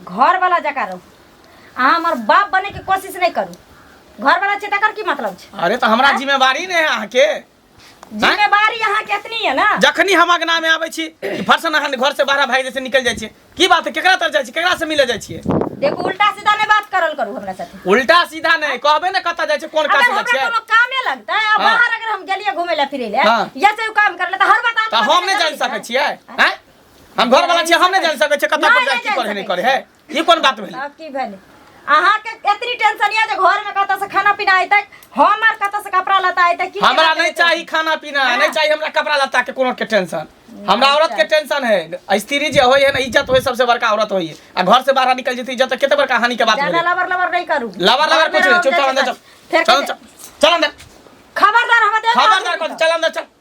घर वाला जका रहू अहाँ हमर बाप बने के कोशिश नहीं करू घर वाला छै तकर की मतलब छै अरे तो हमरा जिम्मेवारी ने है अहाँ के जिम्मेवारी अहाँ के एतनी है ना जखनी हम अगना में आबै छी कि फरसन अहाँ घर से बाहर भाई जैसे निकल जाइ छियै की बात है केकरा तर जाइ छी केकरा से मिले जाइ छियै देखू उल्टा सीधा नहीं बात करल करू हमरा साथे उल्टा सीधा नहीं कहबे ने कतऽ जाइ छै कोन काज अगर जाइ हमरा छै कोनो कामे लगता है हाँ। बाहर अगर हम गेलिए घूमे ले फिरे ले हाँ। या से काम कर ले तो हर बात तऽ हम नहि जानि सकै छियै हैं हम घर वाला छियै हम नहि जानि सकै छियै कतऽ पर जाय की करे नहि करे है ई कोन बात भेलै अब की भेल अहाँ के इतनी टेंशन ये जे घर में कतऽ से खाना पीना आइतै हमर कतऽ से कपड़ा लता आइतै की हमरा नहीं चाहिए खाना पीना हाँ। नहीं चाहिए हमरा कपड़ा लता के कोनो के टेंशन हमरा औरत के टेंशन है स्त्री जे होय है ना इज्जत होय सबसे बड़का औरत होय है आ घर से बाहर निकल जती इज्जत केते बड़का हानि के बात ज्यादा भेलै लवर लवर नहीं करू लवर लवर कुछ नहीं चुप चल अंदर चल चल चल अंदर खबरदार हम देख खबरदार कर चल अंदर चल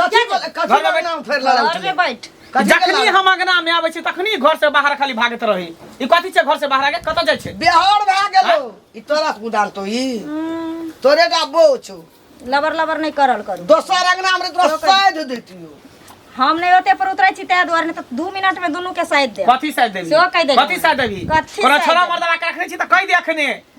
कथी के- कथी घर के में नाम फेर लड़ा घर में बैठ जखनी हम अंगना में आबै छी तखनी घर से बाहर खाली भागैत रही ई कथी छै घर से बाहर आके कतऽ जाइ छै बिहार भए गेलो ई तोरा कुदान तो ई हम्म, तोरे का बो छौ लबर लबर नहीं करल करू दोसर अंगना में तोरा साइड देतियो हम नहीं होते पर उतरे छी ताहि दुआरे नहीं तो दू मिनट में दोनों के साइड दे कथी साइड देबी सेहो कहि देबी। कथी साइड देबी कथी कोनो साइड छोरा देबी? मर्दवा के रखने छी तऽ कहि दे अखने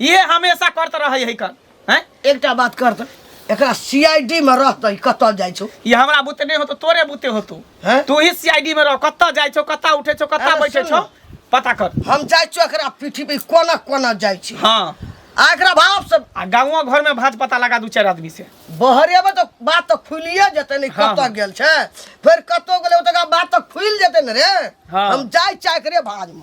ये हमेशा करते रहे है कन हैं एकटा बात कर त एकरा सीआईडी में रहत ई कतल जाइ छौ ये हमरा बुते नहीं हो तो तोरे बुते हो तू हैं? तू ही सीआईडी में रह कत्ता जाय छो कत्ता उठे छो कत्ता अरे बैठे सुन छो ना। पता कर हम जाइ छौ एकरा पीठी पे कोना कोना जाइ छी हाँ आ एकरा भाव से आ गाँव घर में भाज पता लगा दू चार आदमी से बहरे में तो बात तो खुलिए जेते नहीं हाँ, कतऽ हाँ। गेल छै फेर कतऽ गेलै ओतका बात तो खुलि जेते ने रे हाँ। हम जाइ चाहे करे भाज में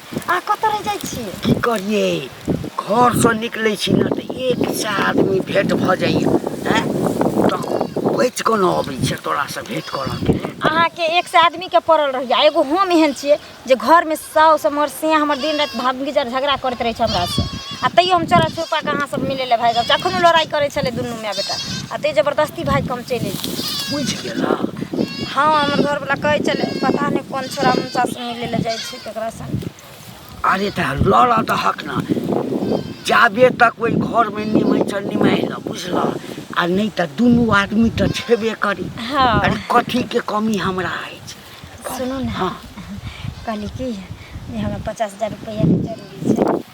अहाँ कतऽ रहि जाइ छी की करिए घरसँ निकलै छी ने तऽ एक से आदमी भेँट भऽ जाइए आँय तऽ बचि कऽ ने अबै छै तोरासँ भेँट करऽके लेल अहाँके एक से आदमीके पड़ल रहिया एगो हम एहन छियै जे घरमे साउस हमर से हमर दिन राति भागीजर झगड़ा करैत रहै छै हमरासँ आ तैयो हम चोरा छुपा कऽ अहाँ सब मिलै लए भागि आबै छी अखनो लड़ाइ करै छलै दुनू माय बेटा आ तैयो जबरदस्ती भागि कऽ हम चलि एलियै बुझि गेलऽ हँ हमर घरवला कहै छलै पता नहि कोन छोरा हुनकासँ मिलै लए जाइ छै तकरा संग अरे तऽ लड़ऽ दहक ने जाबे तक ओहि घरमे निमहि चल निमहि लऽ बुझलह आ नहि तऽ दुनू आदमी तऽ छेबे करी हाँ अरे कथीके कमी हमरा अछि सुनू ने हाँ कहली कि जे हमरा पचास हजार रुपैआके जरूरी छै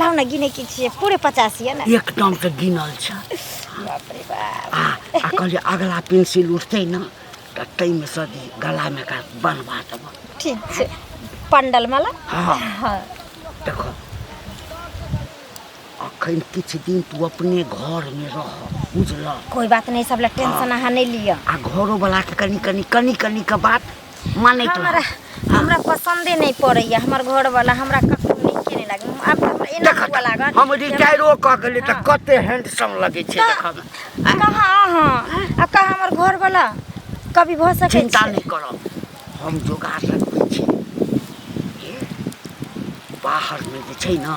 लाउ ने गिने की छियै पूरे पचास ये ना एक टन के गिनल छ बाप रे बाप आ आ कहलिए अगला पेंसिल उठते ना तो तई में से गला में का बनवा देब ठीक छै पंडल माला हाँ हाँ देखो अखन किछु दिन तू अपने घर में रह बुझल कोई बात नहीं सब ला टेंशन अहाँ नहीं लिया आ घरो वाला के कनी कनी कनी कनी के बात मानै तो हमरा हमरा पसंदे नहीं पड़ैया हमर घर वाला हमरा कखनो नीके नहीं लागे आब तऽ हमरा एना हुआ लागल हम जे हमरा- रिटायरो कऽ गेलियै तऽ कते हैंडसम लगै छै तऽ- देखऽमे आ कहाँ अहाँ आ कहाँ हमर घर वाला कभी भऽ सकै चिन्ता छै नहि करब हम जोगाड़ रखबै छी हे, बाहरमे जे छै ने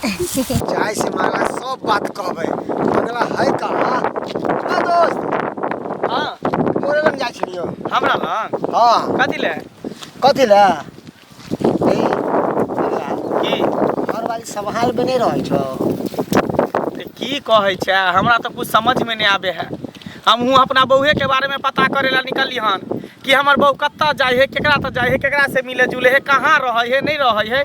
जाय से माला सब बात कहबे मंगला है कहाँ का दोस्त हाँ तोरे लग जाय छियो हमरा लग हाँ कथी ले कथी ले ए, मंगला, की हर बारी संभाल में नहीं रहे छो ते की कहै छै हमरा तऽ कुछ समझ में नहि आबे है हमहूँ अपना बौहे के बारे में पता करे ला निकलली हन कि हमर बहू कतऽ जाइ है केकरा तऽ जाइ है केकरा से मिले जुले है कहाँ रहै है नहि रहै है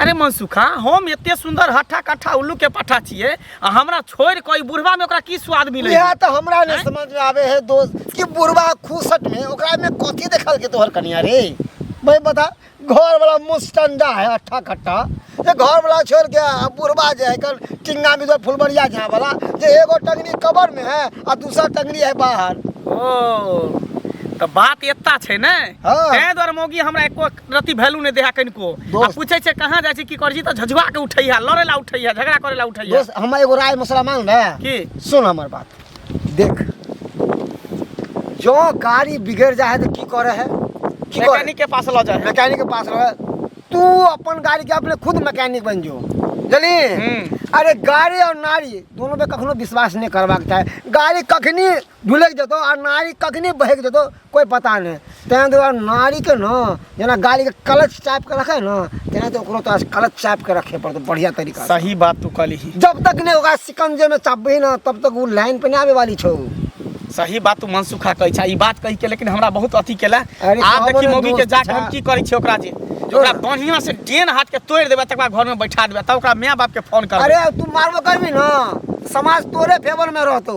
अरे मनसुखा हम एते सुंदर हट्ठा कट्ठा उल्लू के पट्ठा छिए आ हमरा छोड़ कोई बुढ़वा में ओकरा की स्वाद मिले यह तो हमरा ने समझ में आवे है दोस्त कि बुढ़वा खूसट में ओकरा में कथी देखल के तोहर कनिया रे भाई बता घर वाला मुस्टंडा है अट्ठा खट्टा ये घर वाला छोड़ के आ बुढ़वा जे है कल टिंगा में जो फुलबरिया झा वाला जे एगो टंगनी कबर में है आ दूसरा टंगनी है बाहर ओ तो बात एता छै ने हाँ। तै द्वारा मोगी हमरा एको रति वैल्यू नहीं देहा कनिको आ दोस्त। पूछे छे कहाँ जाए छी की कर छी तो झझुआ के उठैया लड़े ला उठैया झगड़ा करे ला उठैया दोस्त हम एगो राय मसला मान रहे की सुन हमर बात देख जो गाड़ी बिगड़ जाए तो की करे है की करे मैकेनिक के पास ल जाए मैकेनिक के पास रहे तू अपन गाड़ी के अपने खुद मैकेनिक बन जो जली हम्म। अरे गाड़ी और नारी दोनों पे कखनो विश्वास नहीं करबाक चाहे गाड़ी कखनी ढुलकि जेतौ आ नारी कखने बहकि जेतौ कोइ पता नहि ताहि दुआरे नारीके ने जेना गाड़ीके कलच चापि कऽ रखै ने तेना तऽ ओकरो तोरा कलच चापि कऽ रखे पड़तौ बढ़िआँ तरीका सही बात तू कहली जब तक नहि ओकरा सिकंजेमे चापबही ने तब तक ओ लाइन पर नहि आबे वाली छौ सही बात तू मनसुखा कहै छै ई बात कहि के लेकिन हमरा बहुत अथी केला आब देखी मौगी के जाके हम की करै छियै ओकरा जे ओकरा बढ़िया से डेन हाथ के तोड़ देबे तकर बाद घर में बैठा देबे तब ओकरा माय बाप के फोन कर अरे तू मारबो करबी ना समाज तोरे फेवर में रहतो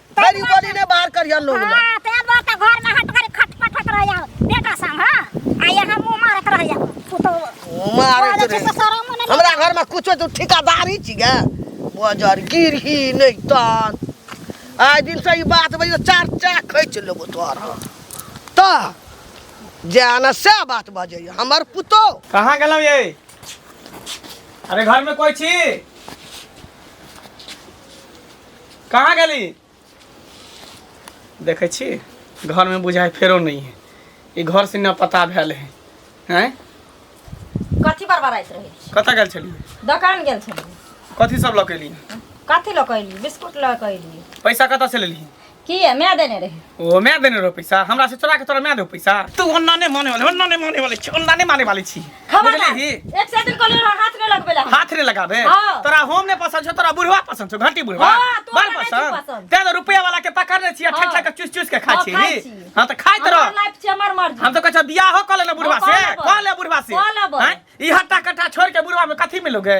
फेर ई बोली ने बाहर करिया लोग ला। हां ते बात त घर में हट कर खटपट होत रह जाओ बेटा सम हां आ यहां मुंह मारत रह जाओ पुतो मारे के रे जैसे शरम मन हमरा घर में कुछो तू ठिकादारी छी गे बजर गिरही नहीं तन आइ दिन से ई बात बजे चार चार खैच लेबो तोहर हम। त जे आना से बात बजे हमर पुतो कहाँ गेलौ ये अरे घर में कोई छी कहाँ गेली देखै छी घरमे बुझाइ फेरो नहि है ई घर से न पता भेल है हैं कथी बरबराइत रहै छी कतऽ गेल छलियै दोकान गेल छलियै कथी सब लऽ के एलियै कथी लऽ कऽ अयली बिस्कुट लऽ कऽ अयली पैसा कतऽ से लेलियै की है मैं देने रही ओ मैं देने रहो पैसा हमरा से चोरा के तोरा मैं दे पैसा तू ओन्ना ने माने वाले ओन्ना ने माने वाले छी ओन्ना ने माने वाले छी बुझले ही एक से दिन को ले हाथ में लगबे ला हाथ रे लगाबे हाँ। तोरा होम ने पसंद छो तोरा बुढ़वा पसंद छो घंटी बुढ़वा हाँ, तोरा बड़ नहीं पसंद पसंद। ते तो रुपया वाला के पकड़ ले छी आ ठक हाँ। ठक के चूस चूस के खा हाँ, छी खाइ छी। हां त खाइत हमार रह लाइफ छे हमार मर्जी हम तो कह बियाह हो कॉल ना बुढ़वा हाँ, से कॉल अब। कॉल बुढ़वा से कॉल अब। हैं? ई हट्टा कट्टा छोड़ के बुढ़वा में कथी मिलोगे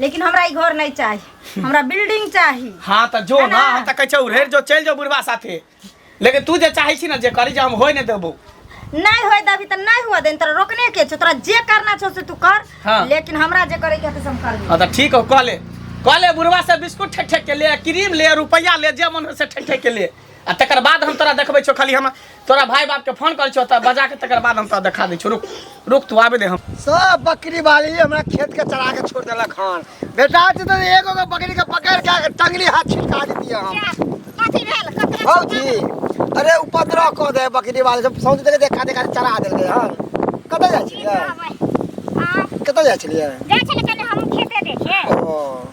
लेकिन हमरा ई घर नहीं चाहिए हमरा बिल्डिंग चाहिए हाँ तो जो ना हम तो कहे उड़ेर जो चल जाओ बुढ़वा साथे लेकिन तू जे चाहे छी ना जे करी जे हम होए नहीं देबो नहीं होए दबी तो नहीं हुआ दिन तोरा रोकने के छो तोरा जे करना छो से तू कर हाँ। लेकिन हमरा जे करे के हम कर हाँ तो ठीक हो कह ले कह ले बुढ़वा से बिस्कुट ठेक ठेक के ले क्रीम ले रुपया ले जे मन हो से ठेक ठेक के ले आ तकर बाद हम तोरा देखबै छौ खाली हम तोरा भाई बाप के फोन करै छौ तऽ बजा के तकर बाद हम तोरा देखा दै छौ रुक रुक तू आबे दे हम सब बकरी वाली हमरा खेत के चरा के छोड़ देलक हन बेटा छै तऽ एगो के बकरी के पकड़ के टंगरी हाथ छिटका देतिए हम कथी भेल कथी भौजी अरे उपद्रव कऽ दे बकरी वाले सब सौंसे देखे देखा देखा के चरा देलकै हन कतऽ जाइ छलियै कतऽ जाइ छलियै जाइ छलै कनि हम खेते देखे ओ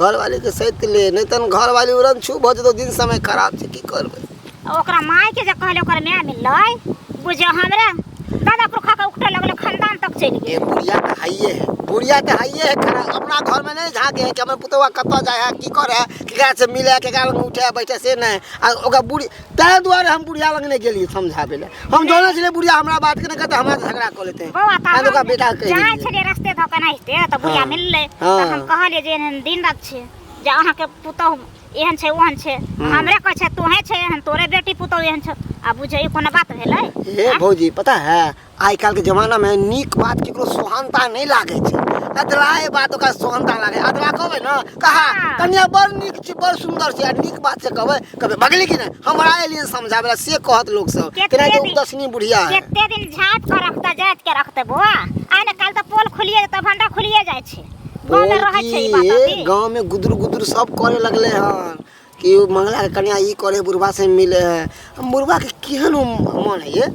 घरवालीके सैत ले नहि तहन घरवाली उड़न छू भऽ जेतौ दिन समय खराब छै की करबै ओकरा मायके जे कहले ओकर माय मिललै बुझियो हमरा दादा पुरखा के उठे लगले खानदान तक चलि गेल बुढ़िया तऽ हाइए है बुढ़िया तऽ हाइए है खरा अपना घरमे नहि झाँके है कि हमर पुतौआ कतऽ जाइ है की करे है केकरा से मिले है केकरा लग उठे है बैठे से नहि आ ओकरा बुढ़ी ताहि दुआरे हम बुढ़िया लग नहि गेलियै समझाबै लए हम जानै छलियै बुढ़िया हमरा बात के नहि कहतै हमरा झगड़ा कऽ लेतै बौआ तऽ हम ओकरा बेटा कहि जाइ देलियै छलियै रस्ते धऽ कऽ नाहिते तऽ बुढ़िया हँ। मिललै हँ। तऽ हम कहलियै जे एहन दिन रात छै जे अहाँके पुतहु एहन छै ओहन छै हँ। हमरे कहै छै तोहे छै एहन तोरे बेटी पुतहु एहन छै आ बुझै ई कोनो बात भेलै हे भौजी पता है आइ काल्हिके जमानामे नीक बात ककरो सोहानता नहि लागै छै अधलाहे बात ओकरा सोहानता लागै अधला कहबै ने कहा कनिया बड़ नीक छी बड़ सुन्दर छी आ नीक बात से कहबै कहबै बगली कि नहि हमरा एलियन समझाबै से कहत लोक सब केना जे उपदसनी बुढ़िया है केते दिन झाट पर रखता जात के रखते बुआ आइ ने काल त पोल खुलिए त भंडा खुलिए जाइ छै गांव में रहै छै ई बात गांव में गुदुर गुदुर सब करे लगले हन कि ओ मंगलाके कनिया ई करै है बुढ़बा से मिलै है हम बुढ़बा के केहन ओ मन है ये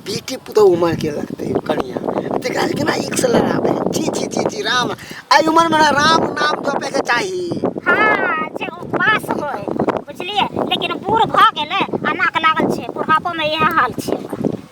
बेटी पुतोहु मार के रखते है कनिया तेकरा से केना एक से लड़ाबे है छी छी छी छी राम आई उम्र में ना राम नाम जपे के चाही हाँ जे उपास होय बुझलियै लेकिन बूढ़ भऽ गेलै आ नाक लागल छै बुढ़ापोमे इएह हाल छै ओकर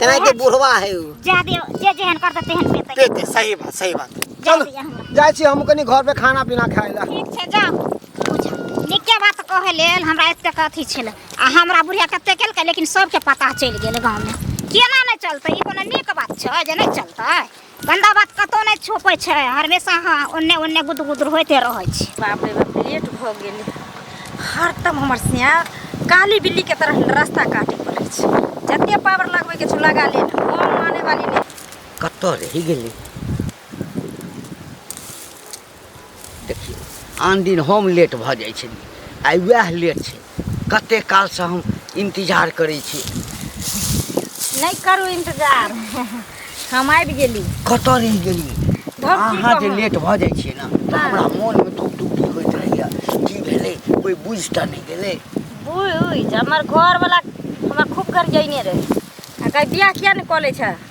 तेना के बुढ़वा है उ जा दे जे जेहन करते तेहन पेते पेते सही बात सही बात जा चल दिया हमरा जाय छी हम कनी घर पे खाना पीना खाय ला ठीक छै जा बुझा नीके बात कहे लेल हमरा एतेक अथी छलै आ हमरा बुढ़िया कते केलकै लेकिन सबके पता चलि गेल गाँवमे केना नहि चलतै ई कोनो नीक बात छै जे नहि चलतै गन्दा बात कतौ नहि छोपै छै हमेशा अहाँ ओन्ने ओन्ने गुद गुदर होइते रहै छी बाप रे बाप लेट भऽ गेल हरदम हमर सिया काली बिल्लीके तरह रास्ता काटि पड़ै छै जते पावर लगबैके छै लगा ले हम माने वाली नहि कतऽ रहि गेली देखियौ आन दिन हम लेट भऽ जाइ छलियै आइ वएह लेट छै कते कालसँ हम इन्तजार करै छी नहि करू इन्तजार हम आबि गेली कतऽ रहि गेली धोखी अहाँ जे कहूँ। लेट भऽ जाइ छियै ने तऽ हँ। हमरा मोनमे धुक धुक धुक होइत रहैया की भेलै कोइ बुझि टा नहि गेलै बुझ हमर घरवला हमरा खूब गरियैने रहै आ कहै बियाह किया नहि कऽ लै छह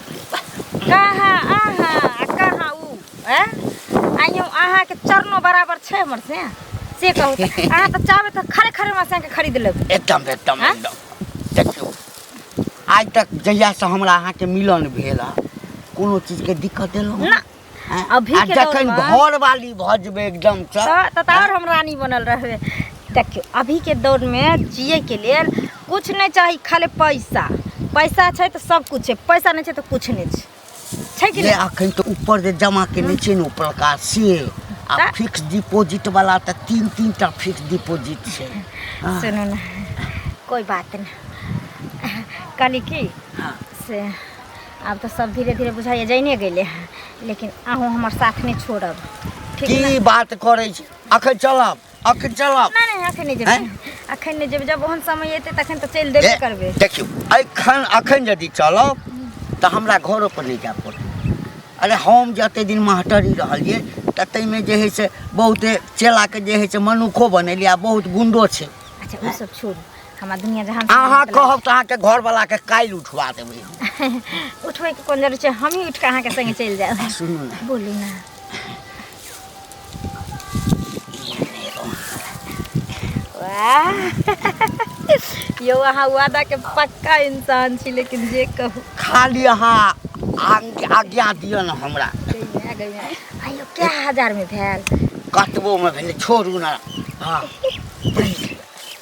कहाँ अहाँ आ कहाँ ऊ हैं आ यूं अहाँ के चरणो बराबर छै हमर से से कहू तऽ। अहाँ तऽ चाहबै तऽ खरे खरे हमरा से अहाँके खरीद लेबै एकदम एकदम हाँ? एकदम देखियौ आइ तक जहियासँ हमरा अहाँके मिलन भेल हँ कोनो चीजके दिक्कत देलहुँ ना हैं? अभी आ के दौर जखन में- घर वाली भऽ जेबै एकदम से तऽ- तऽ तार हम रानी बनल रहबै देखियौ अभी के दौर में जिए के लेल कुछ नहीं चाही खाली पैसा पैसा छै तऽ सब कुछ छै पैसा नहीं छै तऽ कुछ नहीं छै छै कि जे नहीं अखन तऽ ऊपर जे जमा केने छै ने उपरका से आ तऽ- फिक्स डिपोजिट वाला तऽ तीन तीन टा फिक्स डिपोजिट छै हाँ, सुनू ने कोई बात नहीं कहली की हाँ। से आब तऽ सब धीरे धीरे बुझाइए जाइने गेलै हँ लेकिन अहूँ हमर साथ नहि छोड़ब ठीक ने की बात करै छी अखन चलब अखन चलब नहि नहि अखन नहि जेबै हैं? अखन नहि जेबै जब ओहन समय एतै तखन तऽ चलि देबे ए, करबै देखियौ एखन अखन यदि चलब तऽ हमरा घरो पर नहि जाय पड़त अरे हम जते दिन मास्टरी रहलियै तऽ ताहिमे जे है से बहुते चेलाके जे है से मनुखो बनेलियै आ बहुत गुंडो छै अच्छा ओ सब छोड़ू हमरा दुनिया जहान से अहाँ मतलब- कहब तऽ अहाँके घरवला के काल्हि उठवा देबै हम। उठबै के कोन जरूरत छै हमही उठि कऽ अहाँके संगे चलि जायब सुनू ने बोलू ना वाह यौ अहाँ वादा के पक्का इंसान छी लेकिन जे कहू खाली अहाँ आग- आज्ञा दिअ ने हमरा गइया, गइया। आइयो क्या हजार में भेल कतबोमे भेलै छोड़ू ने हँ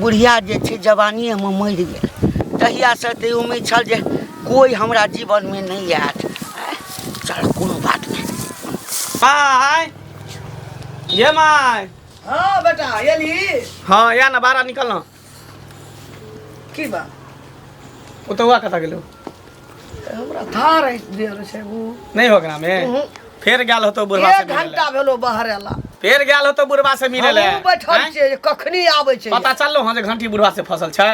बुढ़िया जे छै जवानियेमे मरि गेल तहियासँ तऽ उम्मीद छल जे कोइ हमरा जीवनमे नहि आयत चल कोनो बात नहि माय ये माय हाँ बेटा एली हाँ या ना बाहर निकल ना की बा ओतहुआ कतऽ गेलो हमरा था रही देर से वो नहीं हो गया में उहुं। फिर गया होतो बुढ़वा से एक मिले घंटा भेलो बाहर आला फिर गया होतो बुढ़वा से मिले ले हमहूँ बैठल हैं? छियै जे कखनी आबै छै पता चललो हँ जे घंटी बुढ़वा से फसल छै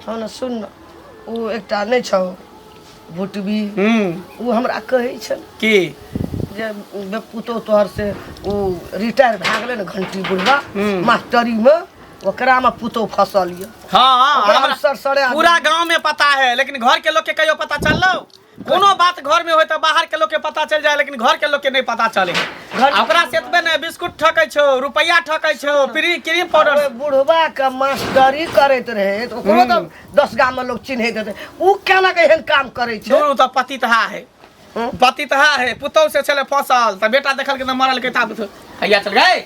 हँ ने सुन ने ओ एकटा नहि छौ भुटबी हम्म ओ हमरा कहै छल की जे बे- पुतोह तोहर से ओ रिटायर भए गेलै ने घंटी बुढ़वा हूँ। मास्टरीमे ओकरा में पुतौ फसल ये हाँ हाँ ओकरा हमरा- सर सरे आदमी। पूरा गांव में पता है लेकिन घर के लोग के कहियो पता चललो कोनो बात घर में होय तो बाहर के लोग के पता चल जाए लेकिन घर के लोग के नहीं पता चले घर- आ ओकरा से एतबे ने बिस्कुट ठकै छो रुपया ठकै छो प्री क्रीम पाउडर अरे बुढ़वा के मास्टरी करैत रहे तो ओकरो तो दस गाम में लोग चिन्हैत रहे उ केना के एहन काम करै छै दुनू तऽ पति तहा है हम्म। पति तहा है पुतौ से छले फसल तऽ बेटा देखल के तऽ मरल के ता हैया चल गए